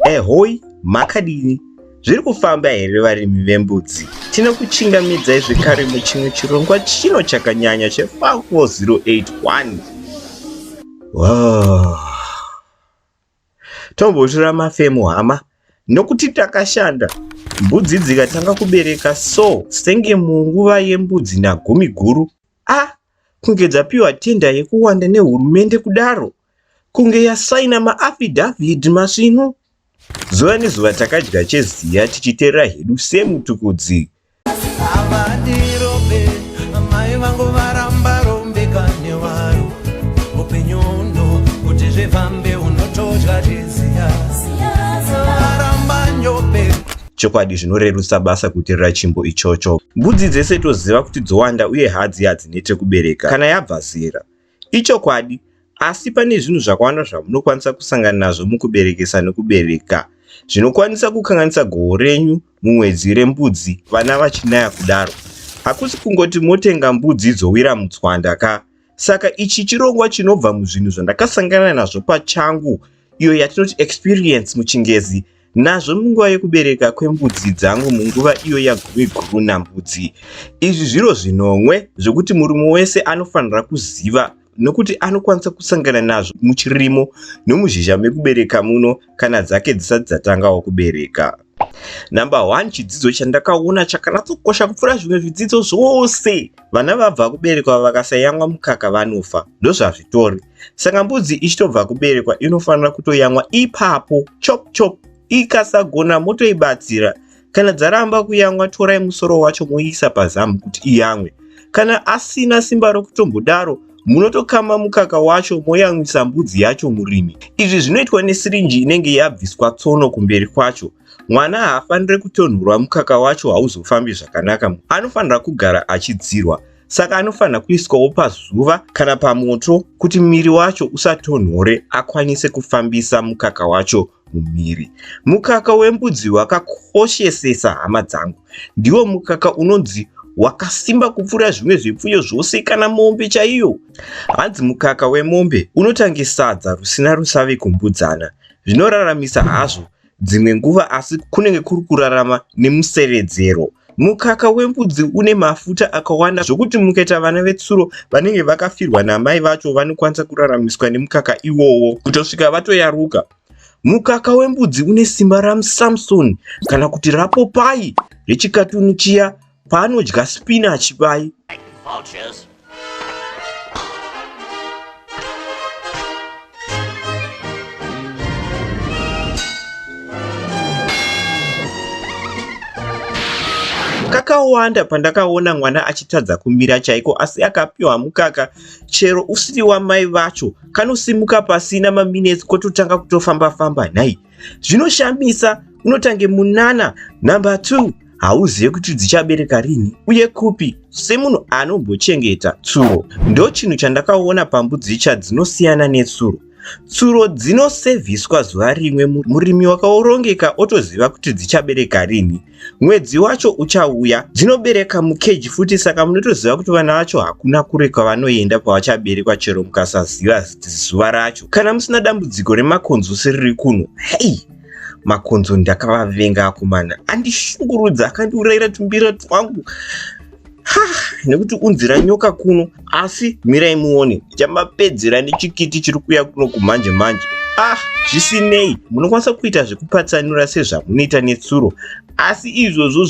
Ehoi, eh, makadini? Zviri kufamba here varimi vembudzi? Tinokuchingamidzai zvekare muchimwe chirongwa chino chakanyanya che4081. Wow. Tombotura mafemo hama nokuti takashanda mbudzi dzikatanga kubereka so senge munguva yembudzi nagumi guru a ah, kunge dzapiwa tenda yekuwanda nehurumende kudaro kunge yasaina maafidavit masvinu zuva nezuva takadya cheziya tichiterera hedu semutukudzi chokwadi zvinorerutsa basa kuterera chimbo ichocho mbudzi dzese toziva kuti dzowanda uye hadzi hadzinete kubereka kana yabva zera Ichokwadi, asi pane zvinhu zvakawanda zvamunokwanisa kusangana nazvo mukuberekesa nokubereka zvinokwanisa kukanganisa goho renyu mumwedzi rembudzi vana vachinaya kudaro. Hakusi kungoti motenga mbudzi dzowira mutswanda ka. Saka ichi chirongwa chinobva muzvinhu zvandakasangana nazvo pachangu iyo yatinoti experience muchingezi nazvo munguva yekubereka kwembudzi dzangu munguva iyo yagumi guru nambudzi izvi zviro zvinomwe zvekuti murume wese anofanira kuziva nokuti anokwanisa kusangana nazvo muchirimo nomuzhizha mekubereka muno kana dzake dzisati dzatangawo kubereka number one chidzidzo chandakaona chakanatsokosha kupfuura zvimwe zvidzidzo zvose vana vabva kuberekwa vakasayamwa mukaka vanofa ndozvazvitori saka mbudzi ichitobva kuberekwa inofanira kutoyamwa ipapo chop chop ikasagona motoibatsira kana dzaramba kuyamwa torai musoro wacho moiisa pazamu kuti iyamwe kana asina simba rokutombodaro munotokama mukaka wacho moyamwisa mbudzi yacho murimi izvi zvinoitwa nesirinji inenge yabviswa tsono kumberi kwacho mwana haafanire kutonhurwa mukaka wacho hauzofambi zvakanaka anofanira kugara achidzirwa saka anofanira kuiswawo pazuva kana pamoto kuti miri wacho usatonhore akwanise kufambisa mukaka wacho mumiri mukaka wembudzi wakakoshesesa hama dzangu ndiwo mukaka unonzi wakasimba kupfuura zvimwe zvipfuyo zvose kana mombe chaiyo hanzi mukaka wemombe unotange sadza rusina rusavi kumbudzana zvinoraramisa hazvo Dzimwe nguva asi kunenge kuri kurarama nemusevedzero. Mukaka wembudzi une mafuta akawanda zvokuti mukaita vana vetsuro vanenge vakafirwa namai vacho vanokwanisa kuraramiswa nemukaka iwowo kutosvika vatoyaruka. Mukaka wembudzi une simba ramusamsoni kana kuti rapopayi rechikatuni chiya paanodya spinach pai kakawanda pandakaona mwana achitadza kumira chaiko asi akapiwa mukaka chero usiri wamai vacho kanosimuka pasina maminetsi kototanga kutofamba famba nhai Zvinoshamisa unotange munana number 2 hauzive kuti dzichabereka rini uye kupi semunhu anombochengeta tsuro ndo chinhu chandakaona pambudzi cha dzinosiyana netsuro tsuro dzinosevhiswa zuva rimwe murimi wakaorongeka otoziva kuti dzichabereka rini mwedzi wacho uchauya dzinobereka mukeji futi saka munotoziva kuti vana vacho hakuna kure kwavanoenda kwavachaberekwa chero mukasaziva zuva racho kana musina dambudziko remakonzo seriri kuno hei makonzo ndakavavenga akomana andishungurudza akandiurayira tumbira twangu ha nekuti unzira nyoka kuno asi mirai muone chamapedzera nechikiti chiri kuya kuno kumanje manje ah zvisinei munokwanisa kuita zvekupatsanura sezvamunoita netsuro asi izvozvo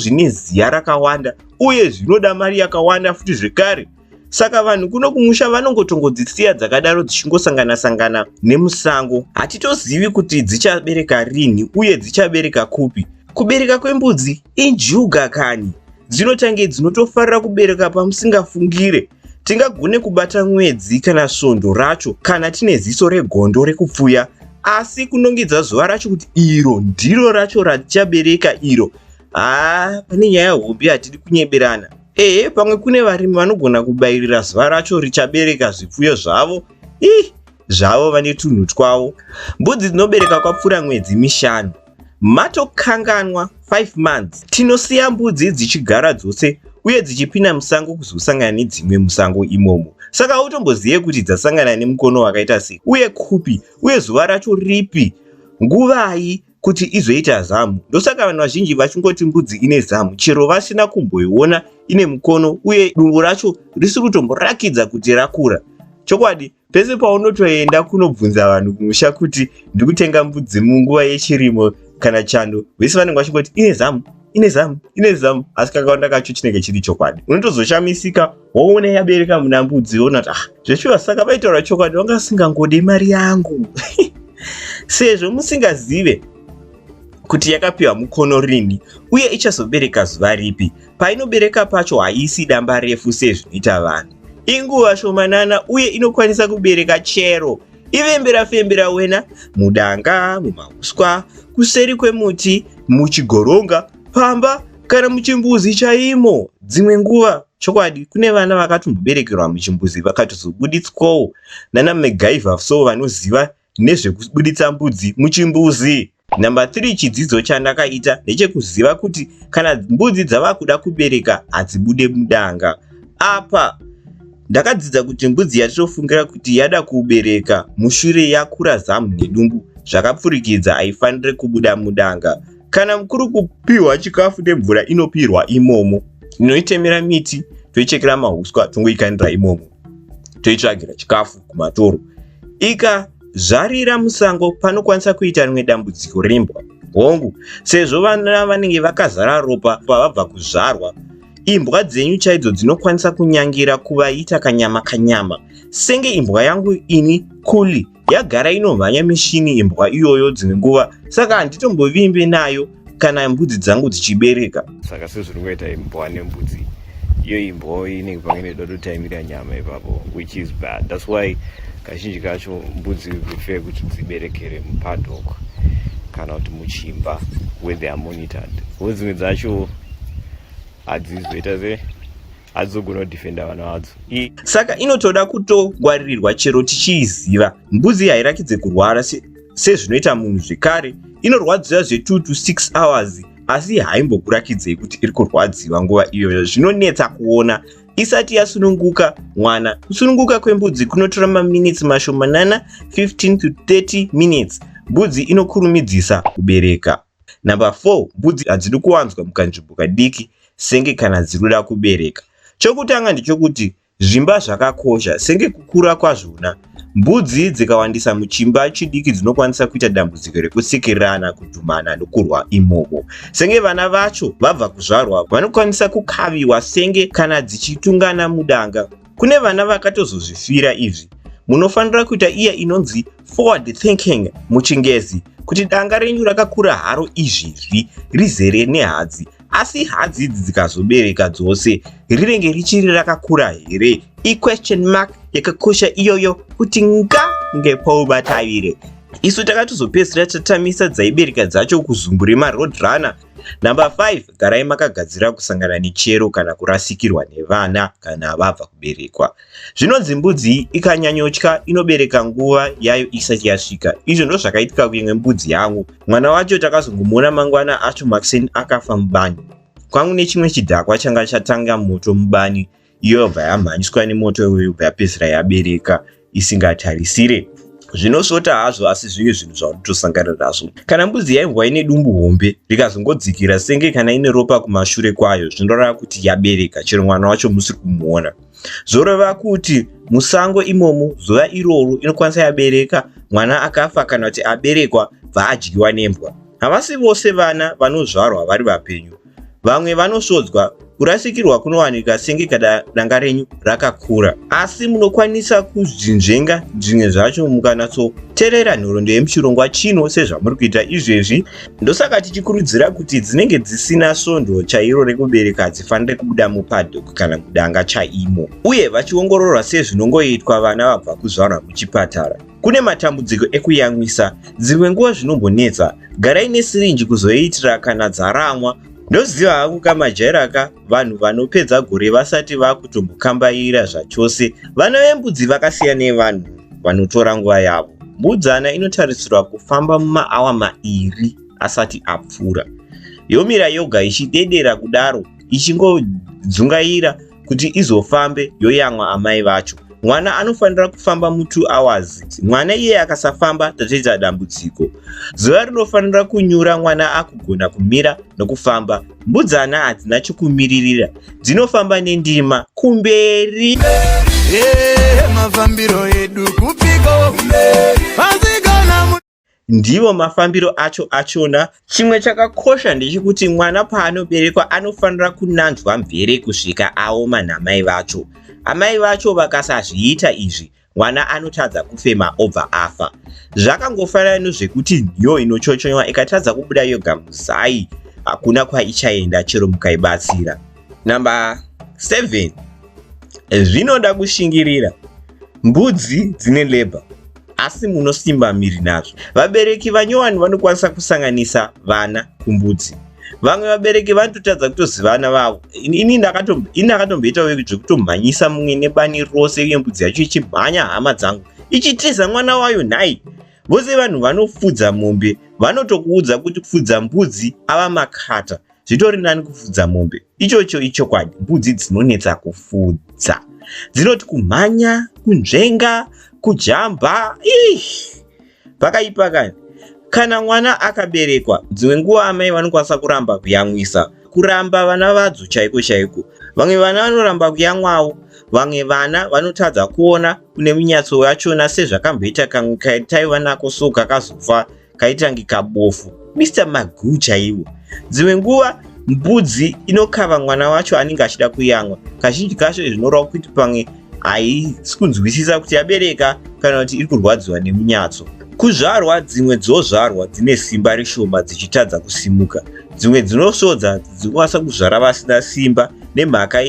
zvine ziya rakawanda uye zvinoda mari yakawanda futi zvekare saka vanhu kuno kumusha vanongotongodzisiya dzakadaro dzichingosangana sangana nemusango hatitozivi kuti dzichabereka rinhi uye dzichabereka kupi kubereka kwembudzi injuga kani dzinotange dzinotofarira kubereka pamusingafungire tingagone kubata mwedzi kana svondo racho kana tine ziso regondo rekupfuya asi kunongedza zuva racho kuti iro ndiro racho ratichabereka iro haa pane nyaya hombe hatidi kunyeberana Ehe, pamwe kune varimi vanogona kubayirira zuva racho richabereka zvipfuyo zvavo. Ih, zvavo vane tunhu twavo. Mbudzi dzinobereka kwapfuura mwedzi mishanu. Matokanganwa 5 months. Tinosiya mbudzi dzichigara dzose uye dzichipinda musango kuzosangana nedzimwe musango imomo saka hautombozive kuti dzasangana nemukono wakaita sei uye kupi uye zuva racho ripi nguvai kuti izoita zamu. Ndosaka vanhu vazhinji vachingoti mbudzi ine zamu chero vasina kumboiona ine mukono uye dumbu racho risiri kutomborakidza kuti rakura. Chokwadi, pese paunotoenda kunobvunza vanhu kumusha kuti ndiri kutenga mbudzi munguva yechirimo kana chando, vese vanenge vachingoti ine zamu, ine zamu, ine zamu, asi kakawanda kacho chinenge chiri chokwadi. Unotozoshamisika woona yabereka muna mbudzi woona kuti ah zveshuwa saka vaitaura chokwadi vanga vasingangode mari yangu sezvo musingazive kuti yakapiwa mukono rini uye ichazobereka zuva ripi painobereka pacho haisi damba refu sezvinoita vanhu inguva shomanana uye inokwanisa kubereka chero ivembera fembera wena mudanga mumauswa kuseri kwemuti muchigoronga pamba kana muchimbuzi chaimo dzimwe nguva Chokwadi kune vana vakatomboberekerwa muchimbuzi vakatozobuditswawo nana MacGyver so vanoziva nezvekubuditsa mbudzi muchimbuzi. Number 3 chidzidzo chandakaita ndechekuziva kuti kana mbudzi dzavakuda kubereka hadzibude mudanga. Apa ndakadzidza kuti mbudzi yatinofungira kuti yada kubereka mushure yakura zamu nedumbu zvakapfurikidza haifanire kubuda mudanga. Kana mukuru kupiwa chikafu nemvura inopirwa imomo, tinoitemera miti, toichekera mahuswa, tongoikanira imomo, toitsvagira chikafu kumatoro. Ika zvarira musango panokwanisa kuita rimwe dambudziko rembwa hongu sezvo vana vanenge vakazara ropa pavabva kuzvarwa imbwa dzenyu chaidzo dzinokwanisa kunyangira kuvaita kanyama kanyama senge imbwa yangu ini kuli yagara inomhanya mishini imbwa iyoyo dzimwe nguva saka handitombovimbe nayo kana mbudzi dzangu dzichibereka saka sezviri kuita imbwa nembudzi iyo imbwa inenge pamwe inoda kutotaimira nyama ipapo which is bad thats why kazhinji kacho mbudzi prefer kuti dziberekere mupadok kana kuti muchimba where they are monitored ko dzimwe dzacho hadzizoita se hadzogona kudefenda vana vadzo saka inotoda kutogwaririrwa chero tichiiziva mbuzi hairakidze kurwara sezvinoita se munhu zvekare inorwadziwa zve2 to 6 hours asi haimbokurakidzei kuti iri kurwadziwa nguva iyoyo zvinonetsa kuona isati yasununguka mwana kusununguka kwembudzi kunotora maminitsi mashomanana 15 to 30 minutes mbudzi inokurumidzisa kubereka number 4 mbudzi hadzidi kuwanzwa mukanzvimbo kadiki senge kana dziruda kubereka chokutanga ndichokuti zvimba zvakakosha senge kukura kwazvona mbudzi dzikawandisa muchimba chidiki dzinokwanisa kuita dambudziko rekusikirirana kudhumana nokurwa imomo senge vana vacho vabva kuzvarwa vanokwanisa kukaviwa senge kana dzichitungana mudanga kune vana vakatozozvifira izvi munofanira kuita iya inonzi forward thinking muchingezi kuti danga renyu rakakura haro izvizvi rizere nehadzi asi hadzi idzi dzikazobereka dzose rinenge richiri rakakura here iquestion mark yakakosha iyoyo kuti nga ngepoubatavire isu takatozopedzisira tatamisa dzaibereka dzacho kuzumbure maroad runner Number 5 garai makagadzira kusangana nechero kana kurasikirwa nevana kana vabva kuberekwa. Zvinonzi mbudzi ikanyanyotya inobereka nguva yayo isati yasvika. Izvo ndozvakaitika kuimwe mbudzi yangu. Mwana wacho takazongomuona mangwana acho makuseni akafa mubani. Kwangu nechimwe chidhakwa changa chatanga moto mubani iyo yobva yamhanyiswa nemoto iyoyo yobva yapedzisira yabereka isingatarisire zvinosvota hazvo asi zvive zvinhu zvaunotosangana nazvo kana mbudzi yaimbwa ine dumbu hombe rikazongodzikira senge kana ine ropa kumashure kwayo zvinorava kuti yabereka chero mwana wacho musiri kumuona zvoreva kuti musango imomo zuva iroro inokwanisa yabereka mwana akafa kana kuti aberekwa bva adyiwa nembwa havasi vose vana vanozvarwa vari vapenyu Vamwe vanosvodzwa kurasikirwa kunowanika senge kada danga renyu rakakura asi munokwanisa kuzvinzvenga zvimwe zvacho mukanatsoterera nhorondo yemuchirongwa chino sezvamuri kuita izvezvi ndosaka tichikurudzira kuti dzinenge dzisina svondo chairo rekubereka hadzifanire kubuda mupadhok kana mudanga chaimo uye vachiongororwa sezvinongoitwa vana vabva kuzvarwa muchipatara Kune matambudziko ekuyamwisa, dzimwe nguva zvinombonetsa. Garai nesirinji kuzoitira kana dzaramwa. Ndoziva hangu kamajaira ka vanhu vanopedza gore vasati vakutombokambaira zvachose. Vana vembudzi vakasiya nevanhu vanotora nguva yavo. Mbudzana inotarisirwa kufamba mumaawa mairi asati apfuura. Yomira yoga ichidedera kudaro ichingodzungaira kuti izofambe yoyamwa amai vacho mwana anofanira kufamba mutwo hours mwana iye akasafamba tatoita dambudziko zuva rinofanira kunyura mwana akugona kumira nokufamba mbudzana hadzina chokumiririra dzinofamba nendima kumberi mafambiro edu kupiko ndivo mafambiro acho achona chimwe chakakosha ndechekuti mwana paanoberekwa anofanira kunanzwa mvere kusvika aoma namai vacho amai vacho vakasazviita izvi mwana anotadza kufema obva afa zvakangofanana nozvekuti nhiyo inochochonywa ikatadza kubuda yoga muzai hakuna kwaichaenda chero mukaibatsira Number 7 zvinoda kushingirira mbudzi dzine labor asi munosimba miri nazvo vabereki vanyowani vanokwanisa kusanganisa vana kumbudzi vamwe vabereki vanototadza kutozivana vavo ini ndakatomboitawo zvekutomhanyisa mumwe nebani rose uye mbudzi yacho ichimhanya hama dzangu ichitiza mwana wayo nhai vose vanhu vanofudza mombe vanotokuudza kuti kufudza mbudzi ava makata zvitori nani kufudza mombe ichocho ichokwadi mbudzi dzinonetsa kufudza dzinoti kumhanya kunzvenga kujamba ih pakaipa kani kana mwana akaberekwa dzimwe nguva amai vanokwanisa kuramba kuyamwisa kuramba vana vadzo chaiko chaiko vamwe vana vanoramba kuyamwawo vamwe vana vanotadza kuona kune munyatso yachona sezvakamboita kamwe kaitaiva nako so kakazofa kaitange kabofu Mr Magoo chaiwo dzimwe nguva mbudzi inokava mwana wacho anenge achida kuyamwa kazhinji kacho izvi zvinoreva kuti pamwe haisi kunzwisisa kuti yabereka kana kuti iri kurwadziwa nemunyatso kuzvarwa dzimwe dzozvarwa dzine simba reshoma dzichitadza kusimuka dzimwe dzinosodza dzinokwanisa kuzvara vasina simba nemhaka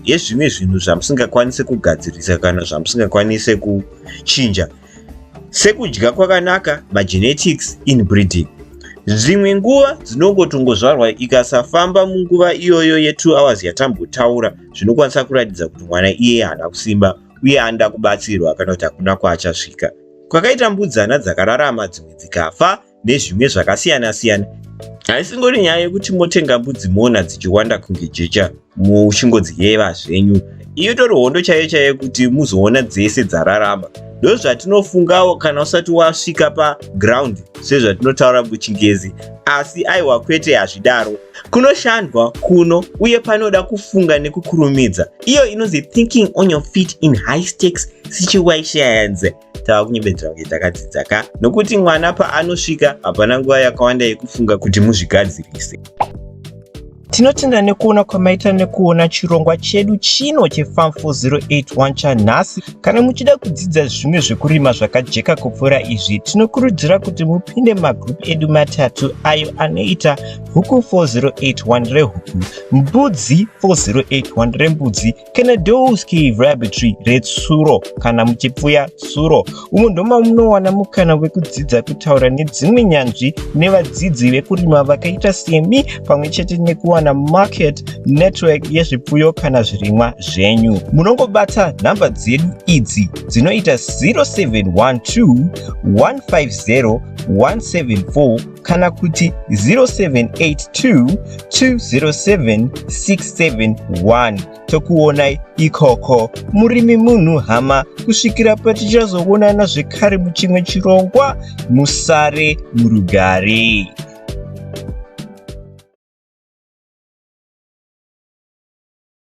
yezvimwe zvinhu zvamusingakwanise kugadzirisa kana zvamusingakwanise kuchinja sekudya kwakanaka magenetics inbreeding zvimwe nguva dzinongotongozvarwa ikasafamba munguva iyoyo ye2 hours yatambotaura zvinokwanisa kuratidza kuti mwana iye haana kusimba uye anoda kubatsirwa kana kuti hakuna kwaachasvika kwakaita mbudzana dzakararama dzimwe dzikafa nezvimwe zvakasiyana siyana haisingori nyaya yekuti motenga mbudzi moona dzichiwanda kunge jecha muchingodziyeva zvenyu iyo itori hondo chaiyo chaiyo kuti muzoona dzese dzararama ndozvatinofungawo kana usati wasvika paground sezvatinotaura muchingezi asi aiwa kwete hazvidaro kunoshandwa kuno uye panoda kufunga nekukurumidza iyo inonzi thinking on your feet in high stakes situations tava kunyebedzera kunge takadzidza ka nokuti mwana paanosvika hapana nguva yakawanda yekufunga kuti muzvigadzirise tinotenda nekuona kwamaita nekuona chirongwa chedu chino chefarm 4081 chanhasi kana muchida kudzidza zvimwe zvekurima zvakajeka kupfuura izvi tinokurudzira kuti mupinde magroup edu matatu ayo anoita huku 4081 rehuku mbudzi 4081 rembudzi Kenedowski Rabbitry retsuro kana muchipfuya tsuro umo ndoma munowana mukana wekudzidza kutaura nedzimwe nyanzvi nevadzidzi vekurima vakaita semi pamwe chete nekuwana market network yezvipfuyo kana zvirimwa zvenyu munongobata nhamba dzedu idzi dzinoita 0712 150 174 kana kuti 0782207671 tokuonai ikoko murimi munhu hama kusvikira patichazoonana zvekare muchimwe chirongwa musare murugare